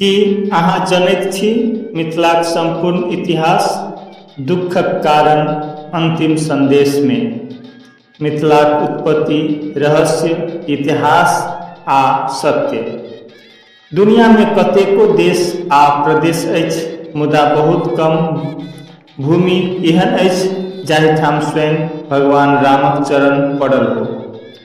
की अहाँ जनैत छी मिथिलाक सम्पूर्ण इतिहास दुःखक कारण अन्तिम सन्देशमे मिथिलाक उत्पत्ति रहस्य इतिहास आ सत्य दुनियामे कतेको देश आ प्रदेश अछि मुदा बहुत कम भूमि एहन अछि जाहिठाम स्वयं भगवान रामक चरण पड़ल हो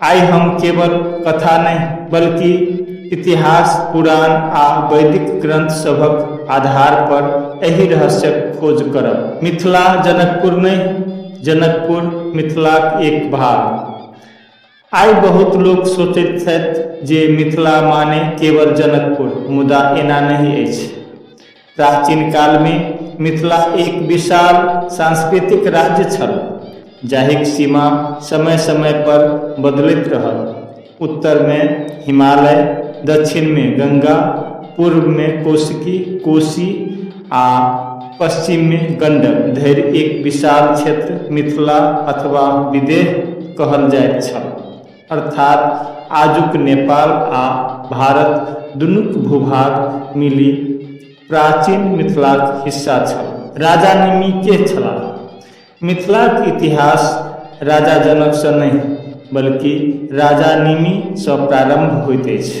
आइ हम केवल कथा नहि बल्कि इतिहास पुराण आ वैदिक ग्रंथ सभक आधार पर एहि रहस्यक खोज करब मिथिला जनकपुर नहि जनकपुर मिथिलाक एक भाग आइ बहुत लोक सोचैत छथि जे मिथिला माने केवल जनकपुर मुदा एना नहि अछि प्राचीन काल मे मिथिला एक विशाल सांस्कृतिक राज्य छल जाहिक सीमा समय समय पर बदलैत रहल। उत्तर मे हिमालय, दक्षिण मे गंगा, पूर्व मे कौशिकी, कोशी, आ पश्चिम मे गंडक धरि एक विशाल क्षेत्र मिथिला अथवा विदेह कहल जाइत छल। अर्थात आजुक नेपाल आ भारत दुनूक भूभाग मिलि प्राचीन मिथिलाक हिस्सा छल। राजा निमि केह छलाह? मिथिलाक इतिहास राजा जनकसँ नहि बल्कि राजा निमि सँ प्रारम्भ होइत अछि।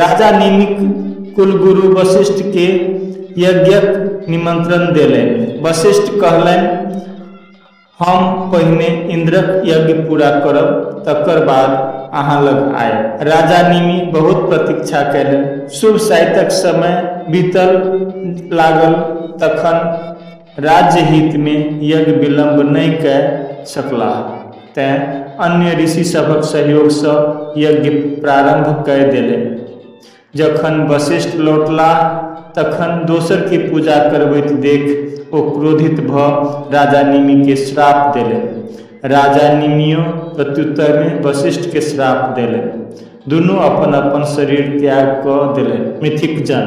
राजा नीमिक कुलगुरु वशिष्ठके यज्ञक निमन्त्रण देलनि वशिष्ठ कहलनि हम पहिने इन्द्रक यज्ञ पूरा करब तकर बाद अहाँ लग आयब राजा निमि बहुत प्रतीक्षा कयलनि शुभ साइतक समय बीतल लागल तखन राज्यहितमे यज्ञ विलम्ब नहि कए सकलाह तेँ अन्य ऋषि सभक सहयोगसँ यज्ञ प्रारम्भ कए देलनि। जखन वशिष्ठ लौटलाह तखन दोसरकेँ पूजा करबैत देख ओ क्रोधित भऽ राजा निमिकेँ श्राप देलनि। राजा निमियो प्रत्युत्तरमे वशिष्ठकेँ श्राप देलनि। दुनू अपन-अपन शरीर त्याग कऽ देलनि। मिथिकजन।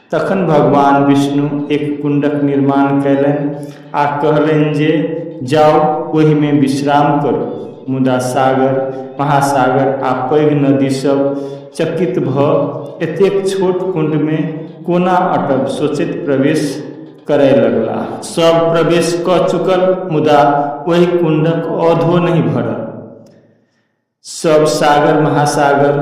तखन भगवान विष्णु एक कुण्डक निर्माण कयलनि आ कहलनि जे जाउ ओहिमे विश्राम करू मुदा सागर महासागर आ पैघ नदीसभ चकित भऽ एतेक छोट कुण्डमे कोना अटब सोचैत प्रवेश करय लगला सभ प्रवेश कऽ चुकल मुदा ओहि कुण्डक औधो नहि भरल सभ सागर महासागर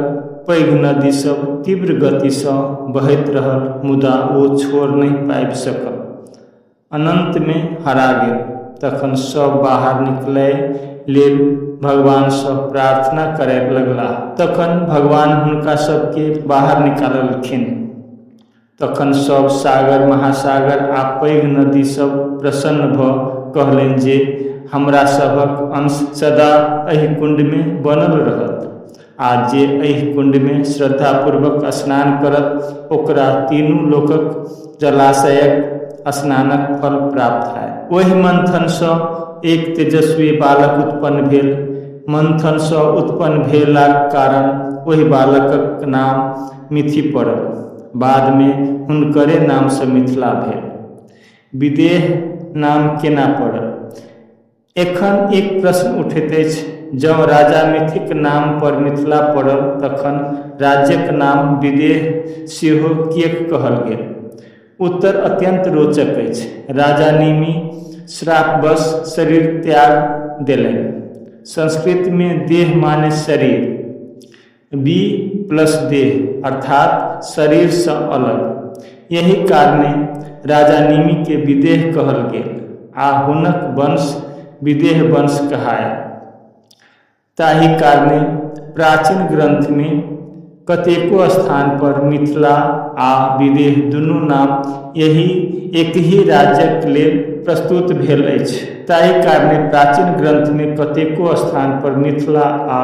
पैघ नदी सभ तीव्र गतिसँ बहैत रहल मुदा ओ छोड़ नहि पाबि सकल अनन्तमे हरा गेल तखन सभ बाहर निकलय लेल भगवानसँ प्रार्थना करय लगलाह तखन भगवान हुनका सभके बाहर निकाललखिन तखन सभ सागर, महासागर आ पैघ नदी सभ प्रसन्न भ कहलनि जे हमरा सभक अंश सदा एहि कुंड मे बनल रहत आ जे एहि कुंड मे श्रद्धापूर्वक स्नान करत ओकरा तीनू लोकक जलाशयक स्नानक फल प्राप्त हएत। ओहि मंथन सँ एक तेजस्वी बालक उत्पन्न भेल। मंथन सँ उत्पन्न भेलाक कारण ओहि बालकक नाम मिथि पड़ल बादमे हुनकरे नामसँ मिथिला भेल विदेह नाम केना पड़ल एखन एक प्रश्न उठैत अछि जँ राजा मिथिक नाम पर मिथिला पड़ल तखन राज्यक नाम विदेह सेहो किएक कहल गेल उत्तर अत्यन्त रोचक अछि राजा निमि श्रापवश शरीर त्याग देलनि संस्कृतमे देह माने शरीर बी प्लस देह अर्थात शरीरसँ अलग एहि कारणे राजा निमिके विदेह कहल गेल आ हुनक वंश विदेह वंश कहाय ताहि कारणे प्राचीन ग्रन्थमे कतेको स्थानपर मिथिला आ विदेह दुनू नाम एहि एक ही राज्यक लेल प्रस्तुत भेल अछि ताहि कारणे प्राचीन ग्रन्थमे कतेको स्थानपर मिथिला आ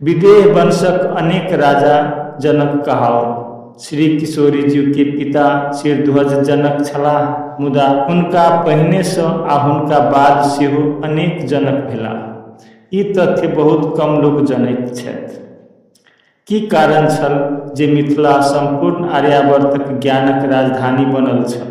विदेह वंशक अनेक राजा जनक कहाओल श्री किशोरीजीके पिता शिरध्वज जनक छलाह मुदा हुनका पहिनेसँ आ हुनका बाद सेहो अनेक जनक भेलाह ई तथ्य बहुत कम लोक जनैत छथि की कारण छल जे मिथिला सम्पूर्ण आर्यावर्तक ज्ञानक राजधानी बनल छल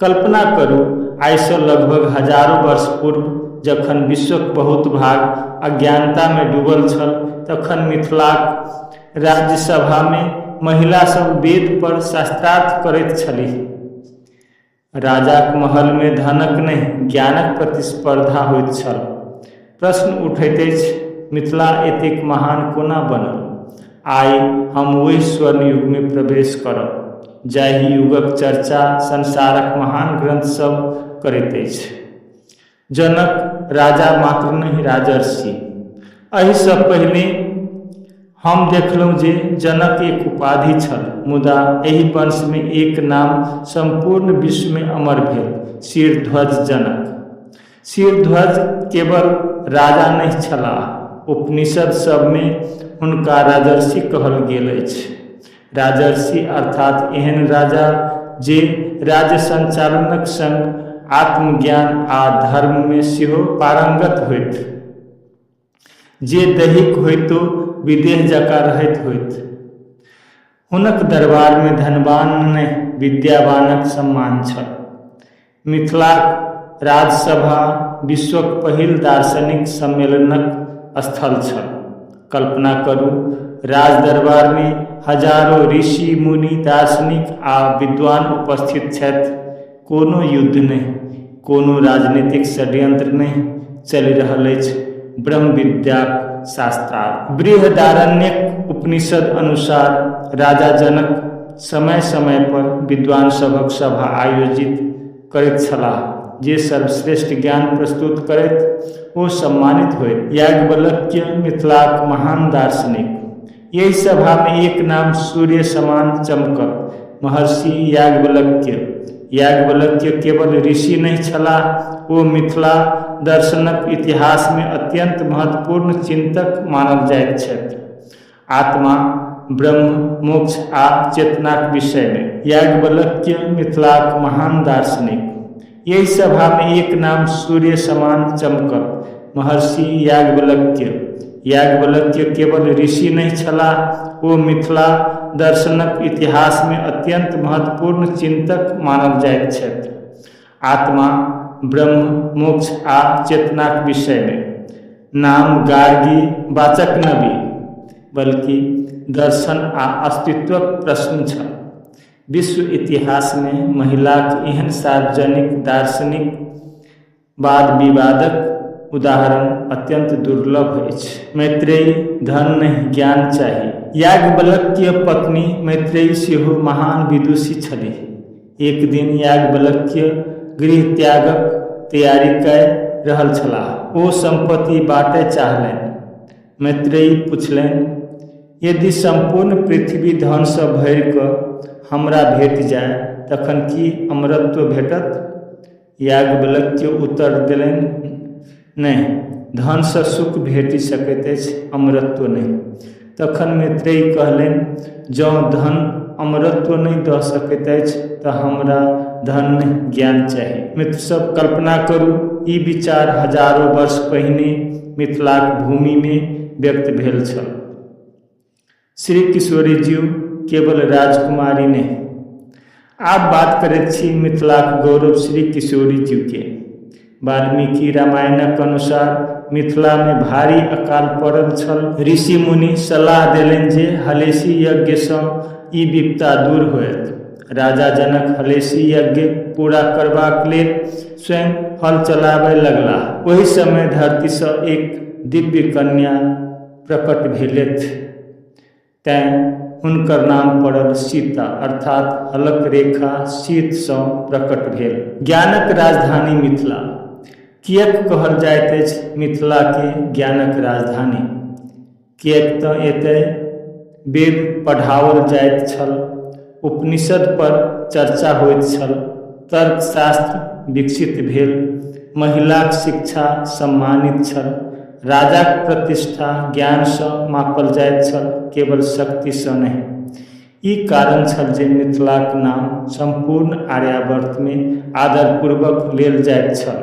कल्पना करू, आइसँ लगभग हजारो वर्ष पूर्व जखन विश्वक बहुत भाग अज्ञानतामे डूबल छल तखन मिथिलाक राज्यसभामे महिला सभ वेद पर शास्त्रार्थ करैत छलीह। राजाक महलमे धनक नहि, ज्ञानक प्रतिस्पर्धा होइत छल। प्रश्न उठैत अछि मिथिला एतेक महान कोना बनल आइ हम ओहि स्वर्ण युगमे प्रवेश करब जाहि युगक चर्चा संसारक महान ग्रन्थसभ करैत अछि जनक राजा मात्र नहि राजर्षि एहिसँ पहिने हम देखलहुँ जे जनक एक उपाधि छल मुदा एहि वंशमे एक नाम सम्पूर्ण विश्वमे अमर भेल शिरध्वज जनक शिरध्वज केवल राजा नहि छलाह उपनिषद सभमे हुनका राजर्षि कहल गेल अछि राजर्षि अर्थात एहन राजा जे राज्य संचालनक संग आत्मज्ञान आ धर्ममे सेहो पारंगत होइत जे दैहिक होइतो विदेह जकाँ रहैत होइत। हुनक दरबारमे धनवान नहि विद्यावानक सम्मान छल। मिथिलाक राजसभा विश्वक पहिल दार्शनिक सम्मेलनक स्थल छल। कल्पना करू, राजदरबारमे हजारो ऋषि-मुनि, दार्शनिक आ विद्वान उपस्थित छथि। कोनो युद्ध नहि कोनो राजनीतिक षड्यंत्र नहि चलि रहल अछि ब्रह्म विद्याक शास्त्रार्थ बृहदारण्यक उपनिषद अनुसार राजा जनक समय समय पर विद्वान सभक सभा आयोजित करैत छलाह जे सर्वश्रेष्ठ ज्ञान प्रस्तुत करैत ओ सम्मानित होइत याज्ञवल्क्य मिथिलाक महान दार्शनिक एहि सभामे एक नाम सूर्य समान चमकत महर्षि याज्ञवल्क्य याज्ञवल्क्य केवल ऋषि नहि छलाह ओ मिथिला दर्शनक इतिहासमे अत्यन्त महत्वपूर्ण चिन्तक मानल जाइत छथि आत्मा ब्रह्म मोक्ष आ चेतनाक विषयमे याज्ञवल्क्य मिथिलाक महान दार्शनिक एहि सभामे एक नाम सूर्य समान चमकत महर्षि याज्ञवल्क्य याज्ञवल्क्य केवल ऋषि नहि छलाह ओ मिथिला दर्शनक इतिहासमे अत्यन्त महत्वपूर्ण चिन्तक मानल जाइत छथि आत्मा ब्रह्म मोक्ष आ चेतनाक विषयमे नाम गार्गी वाचक नवि बल्कि दर्शन आ अस्तित्वक प्रश्न छल विश्व इतिहासमे महिलाक एहन सार्वजनिक दार्शनिक वाद विवादक उदाहरण अत्यन्त दुर्लभ अछि। मैत्रेयी, धन नहि, ज्ञान चाही। याज्ञवल्क्य पत्नी मैत्रेयी सेहो महान विदुषी छलीह। एक दिन याज्ञवल्क्य गृहत्यागक तैयारी कय रहल छलाह। ओ सम्पत्ति बाँटय चाहलनि। मैत्रेयी पुछलनि यदि सम्पूर्ण पृथ्वी धनसँ भरि कऽ हमरा भेट जाय तखन की अमरत्व भेटत याज्ञवल्क्य उत्तर देलनि नहि धनसँ सुख भेटि सकैत अछि अमरत्व नहि तखन मैत्रेयी कहलनि जँ धन अमरत्व नहि दऽ सकैत अछि तऽ हमरा धन नहि ज्ञान चाही मित्रसभ कल्पना करू ई विचार हजारो वर्ष पहिने मिथिलाक भूमिमे व्यक्त भेल छल श्री किशोरीजी केवल राजकुमारी नहि आब बात करैत छी मिथिलाक गौरव श्री किशोरी जी के वाल्मीकि रामायणक अनुसार मिथिला मे भारी अकाल पड़ल छल ऋषि मुनि सलाह देलनि जे हलेसी यज्ञ सँ ई विपता दूर होयत राजा जनक हलेसी यज्ञ पूरा करबाक लेल स्वयं हल चलाबय लगलाह ओहि समय धरती सँ एक दिव्य कन्या प्रकट भेलथि तैं हुनकर नाम पड़ल सीता अर्थात हलक रेखा सीतसँ प्रकट भेल। ज्ञानक राजधानी मिथिला। किएक कहल जाइत अछि मिथिलाकेँ ज्ञानक राजधानी? किएक तँ एतय वेद पढ़ाओल जाइत छल। उपनिषदपर चर्चा होइत छल तर्कशास्त्र विकसित भेल महिलाक शिक्षा सम्मानित छल राजाक प्रतिष्ठा ज्ञानसँ मापल जाइत छल केवल शक्तिसँ नहि ई कारण छल जे मिथिलाक नाम सम्पूर्ण आर्यावर्तमे आदरपूर्वक लेल जाइत छल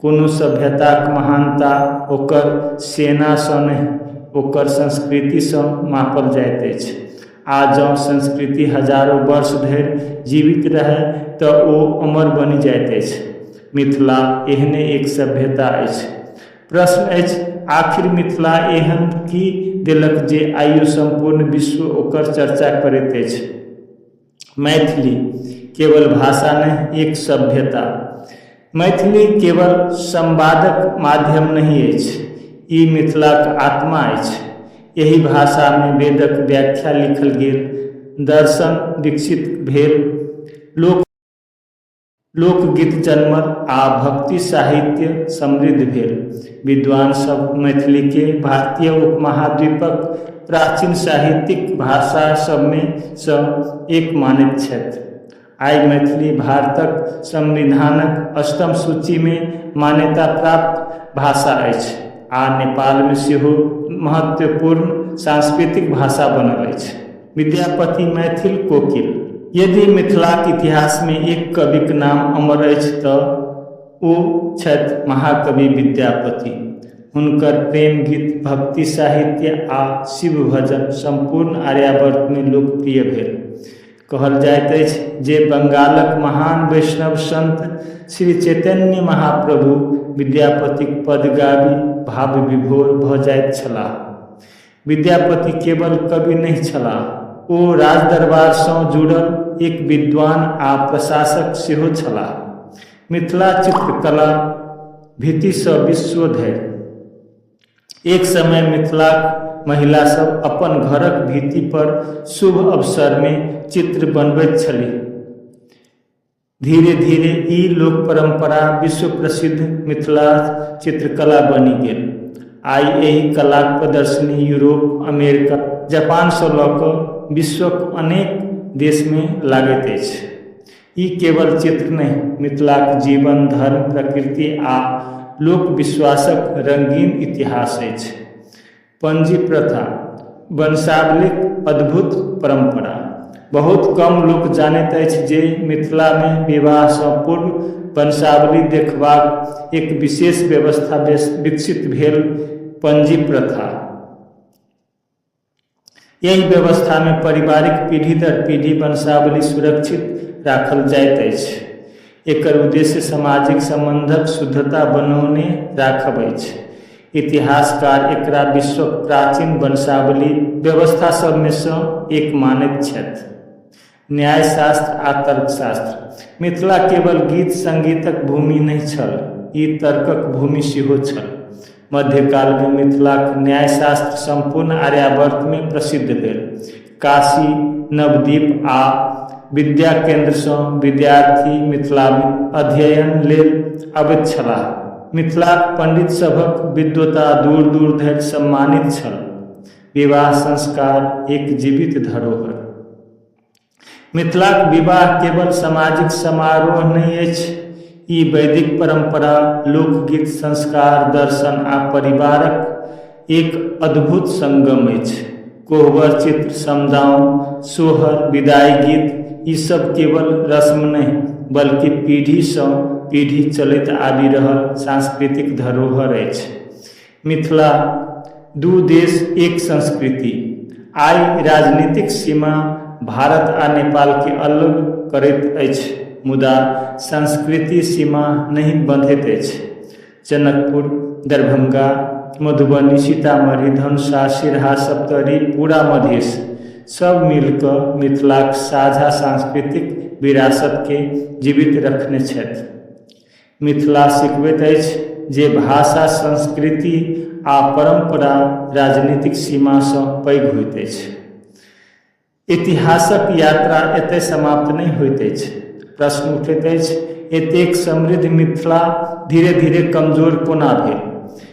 कोनो सभ्यताक महानता ओकर सेनासँ नहि ओकर संस्कृतिसँ मापल जाइत अछि आ जँ संस्कृति हजारो वर्ष धरि जीवित रहय तऽ ओ अमर बनि जाइत अछि मिथिला एहने एक सभ्यता अछि प्रश्न अछि आखिर मिथिला एहन की देलक जे आइयो सम्पूर्ण विश्व ओकर चर्चा करैत अछि मैथिली केवल भाषा नहि एक सभ्यता मैथिली केवल संवादक माध्यम नहि अछि ई मिथिलाक आत्मा अछि एहि भाषामे वेदक व्याख्या लिखल गेल दर्शन विकसित भेल लोक लोकगीत जनमल आ भक्ति साहित्य समृद्ध भेल विद्वान सब मैथिली के भारतीय उपमहाद्वीपक प्राचीन साहित्यिक भाषा सबमे सँ एक मानैत छथि आइ मैथिली भारतक संविधानक अष्टम सूचीमे मान्यता प्राप्त भाषा अछि आ नेपालमे सेहो महत्वपूर्ण सांस्कृतिक भाषा बनल अछि विद्यापति मैथिल कोकिल यदि मिथिलाक इतिहासमे एक कविक नाम अमर अछि तऽ ओ छथि महाकवि विद्यापति हुनकर प्रेम गीत भक्ति साहित्य आ शिव भजन सम्पूर्ण आर्यावर्तमे लोकप्रिय भेल कहल जाइत अछि जे बंगालक महान वैष्णव संत श्री चैतन्य महाप्रभु विद्यापतिक पद गाबि भाव विभोर भऽ जाइत छलाह विद्यापति केवल कवि नहि छलाह ओ राजदरबारसँ जुड़ल एक विद्वान आ प्रशासक सेहो छलाह मिथिला चित्रकला भीतिसँ विश्व धरि एक समय मिथिलाक महिलासभ अपन घरक भीति पर शुभ अवसरमे चित्र बनबैत छलीह धीरे धीरे ई लोक परम्परा विश्व प्रसिद्ध मिथिला चित्रकला बनि गेल आइ एहि कलाक प्रदर्शनी यूरोप अमेरिका जापानसँ लऽ कऽ विश्वक अनेक देशमे लागैत अछि ई केवल चित्र नहि मिथिलाक जीवन धर्म प्रकृति आ लोक विश्वासक रङ्गीन इतिहास अछि पञ्जी प्रथा वंशावलीक अद्भुत परम्परा बहुत कम लोक जानैत अछि जे मिथिलामे विवाहसँ पूर्व वंशावली देखबाक एक विशेष व्यवस्था विकसित भेल पञ्जी प्रथा एहि व्यवस्था मे पारिवारिक पीढ़ी दर पीढ़ी वंशावली सुरक्षित राखल जाइत अछि। एकर उद्देश्य सामाजिक संबंधक शुद्धता बनौने राखब अछि। इतिहासकार एकरा विश्वक प्राचीन वंशावली व्यवस्था सभ मे सँ एक मानैत छथि। न्यायशास्त्र आ तर्कशास्त्र मिथिला केवल गीत संगीतक भूमि नहि छल ई तर्कक भूमि सेहो छल मध्यकालमे मिथिलाक न्यायशास्त्र सम्पूर्ण आर्यावर्तमे प्रसिद्ध भेल काशी नवदीप आ विद्या केन्द्रसँ विद्यार्थी मिथिलामे अध्ययन लेल अबैत छलाह मिथिलाक पंडित सभक विद्वता दूर दूर धरि सम्मानित छल विवाह संस्कार एक जीवित धरोहर मिथिलाक विवाह केवल सामाजिक समारोह नहि अछि ई वैदिक परंपरा लोकगीत संस्कार दर्शन आ परिवारक एक अद्भुत संगम अछि कोहबर चित्र समदाओं सोहर विदाई गीत ई सब केवल रस्म नहि बल्कि पीढ़ीसँ पीढ़ी चलैत आबि रहल सांस्कृतिक धरोहर अछि मिथिला दू देश एक संस्कृति आइ राजनीतिक सीमा भारत आ नेपाल के अलग करैत अछि मुदा संस्कृति सीमा नहि बंधैत अछि जनकपुर दरभंगा मधुबनी सीतामढ़ी धनुषा सिरहा सप्तरी पूरा मधेश सब मिलकऽ मिथिलाक साझा सांस्कृतिक विरासत के जीवित रखने छथि मिथिला सिखबैत अछि जे भाषा संस्कृति आ परम्परा राजनीतिक सीमासँ पैघ होइत अछि इतिहासक यात्रा एतय समाप्त नहि होइत अछि प्रश्न उठैत अछि एतेक समृद्ध मिथिला धीरे धीरे कमजोर कोना भेल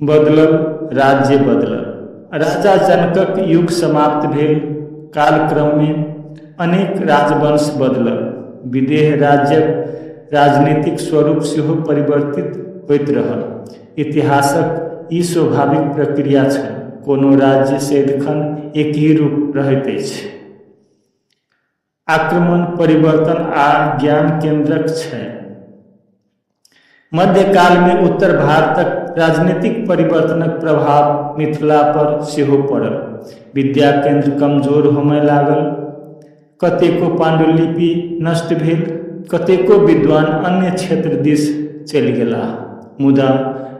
बदलल राज्य बदलल राजा जनकक युग समाप्त भेल कालक्रममे अनेक राजवंश बदलल विदेह राज्यक राजनीतिक स्वरूप सेहो परिवर्तित होइत रहल इतिहासक ई स्वाभाविक प्रक्रिया छल कोनो राज्य सदिखन एक ही रूप रहैत अछि आक्रमण, परिवर्तन आ ज्ञान केन्द्रक छै। मध्यकालमे उत्तर भारतक राजनीतिक परिवर्तनक प्रभाव मिथिलापर सेहो पड़ल। विद्या केन्द्र कमजोर होमय लागल। कतेको पाण्डुलिपि नष्ट भेल। कतेको विद्वान अन्य क्षेत्र दिस चलि गेलाह। मुदा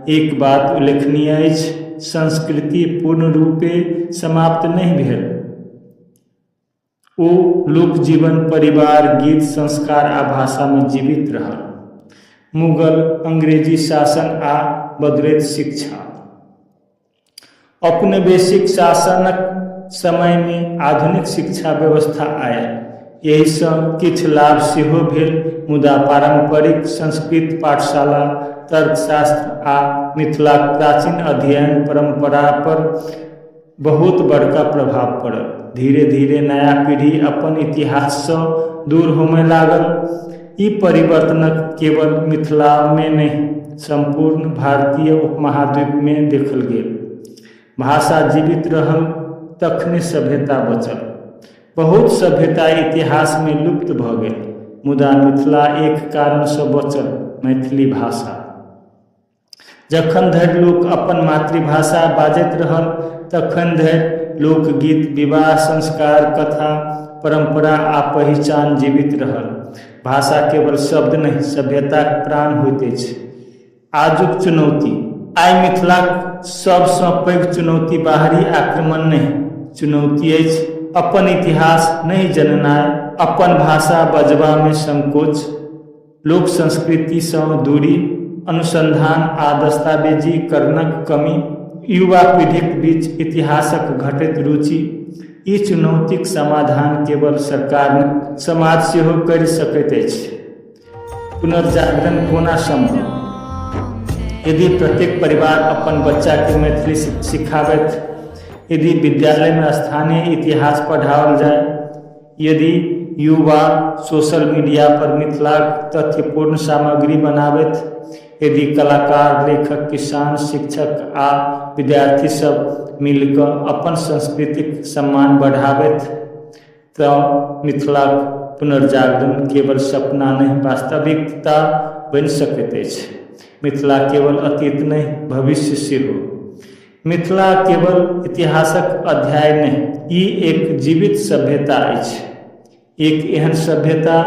एक बात उल्लेखनीय अछि, संस्कृति पूर्ण रूपेँ समाप्त नहि भेल। ओ लोक जीवन परिवार गीत संस्कार आ भाषामे जीवित रहल मुगल अंग्रेजी शासन आ बदलैत शिक्षा औपनिवेशिक शासनक समयमे आधुनिक शिक्षा व्यवस्था आयल एहिसँ किछु लाभ सेहो भेल मुदा पारम्परिक संस्कृत पाठशाला तर्कशास्त्र आ मिथिलाक प्राचीन अध्ययन परम्परापर बहुत बड़का प्रभाव पड़ल धीरे धीरे नया पीढ़ी अपन इतिहाससँ दूर होमय लागल ई परिवर्तनक केवल मिथिलामे नहि सम्पूर्ण भारतीय उपमहाद्वीपमे देखल गेल भाषा जीवित रहल तखने सभ्यता बचल बहुत सभ्यता इतिहासमे लुप्त भऽ गेल मुदा मिथिला एक कारणसँ बचल मैथिली भाषा जखन धरि लोक अपन मातृभाषा बाजैत रहल तखन धरि लोकगीत विवाह संस्कार कथा परम्परा आ पहिचान जीवित रहल भाषा केवल शब्द नहि सभ्यताक प्राण होइत अछि आजुक चुनौती आइ मिथिलाक सभसँ पैघ चुनौती बाहरी आक्रमण नहि चुनौती अछि अपन इतिहास नहि जननाइ अपन भाषा बजबामे संकोच लोक संस्कृतिसँ दूरी अनुसन्धान आ दस्तावेजीकरणक कमी युवा पीढ़ीक बीच इतिहासक घटैत रुचि ई चुनौतीक समाधान केवल सरकार नहि समाज सेहो करि सकैत अछि पुनर्जागरण कोना सम्भव यदि प्रत्येक परिवार अपन बच्चाके मैथिली सिखाबथि यदि विद्यालयमे स्थानीय इतिहास पढ़ाओल जाय यदि युवा सोशल मीडिया पर मिथिलाक तथ्यपूर्ण सामग्री बनाबथि, यदि कलाकार, लेखक, किसान, शिक्षक आ विद्यार्थी सब मिल कऽ अपन संस्कृतिक सम्मान बढ़ाबथि तऽ मिथिलाक पुनर्जागरण केवल सपना नहि वास्तविकता बनि सकैत अछि। मिथिला केवल अतीत नहि, भविष्य सेहो। मिथिला केवल इतिहासक अध्याय नहि ई एक जीवित सभ्यता अछि एक एहन सभ्यता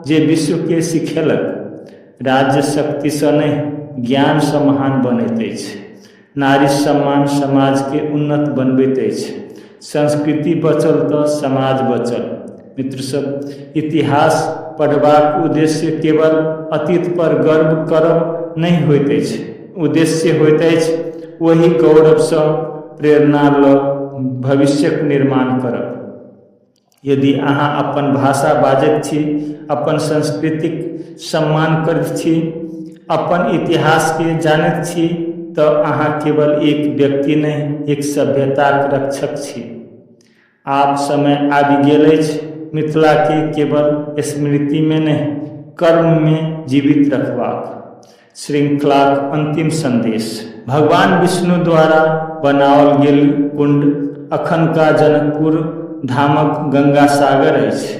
जे विश्वके सिखेलक राज्य शक्तिसँ नहि ज्ञानसँ महान बनैत अछि नारी सम्मान समाजके उन्नत बनबैत अछि संस्कृति बचल तऽ समाज बचल मित्र सब इतिहास पढ़बाक उद्देश्य केवल अतीत पर गर्व करब नहि होइत अछि उद्देश्य होइत अछि ओहि गौरवसँ प्रेरणा लऽ भविष्यक निर्माण करब यदि अहाँ अपन भाषा बाजैत छी अपन संस्कृतिक सम्मान करैत छी अपन इतिहासके जानैत छी तऽ अहाँ केवल एक व्यक्ति नहि एक सभ्यताक रक्षक छी आब समय आबि गेल अछि मिथिलाके केवल स्मृतिमे नहि कर्ममे जीवित रखबाक श्रृंखलाक अंतिम संदेश भगवान विष्णु द्वारा बनाओल गेल कुंड अखनका जनकपुर धामक गंगा सागर अछि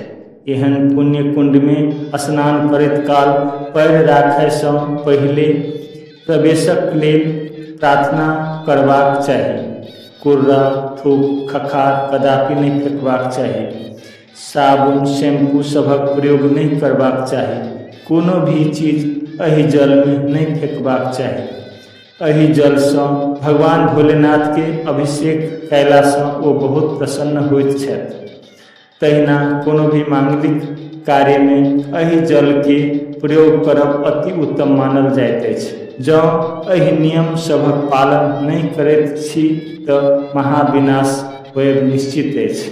एहन पुण्य कुंडमे स्नान करैत काल पैर राखयसँ पहिले प्रवेशक लेल प्रार्थना करबाक चाही कुर्रा थूक खखार कदापि नहि फेकबाक चाही साबुन शैम्पू सभक प्रयोग नहि करबाक चाही कोनो भी चीज एहि जलमे नहि फेकबाक चाही एहि जलसँ भगवान भोलेनाथके अभिषेक कयलासँ ओ बहुत प्रसन्न होइत छथि तहिना कोनो भी माङ्गलिक कार्यमे एहि जलके प्रयोग करब अति उत्तम मानल जाइत अछि जँ एहि नियम सभक पालन नहि करैत छी तऽ महाविनाश होयब निश्चित अछि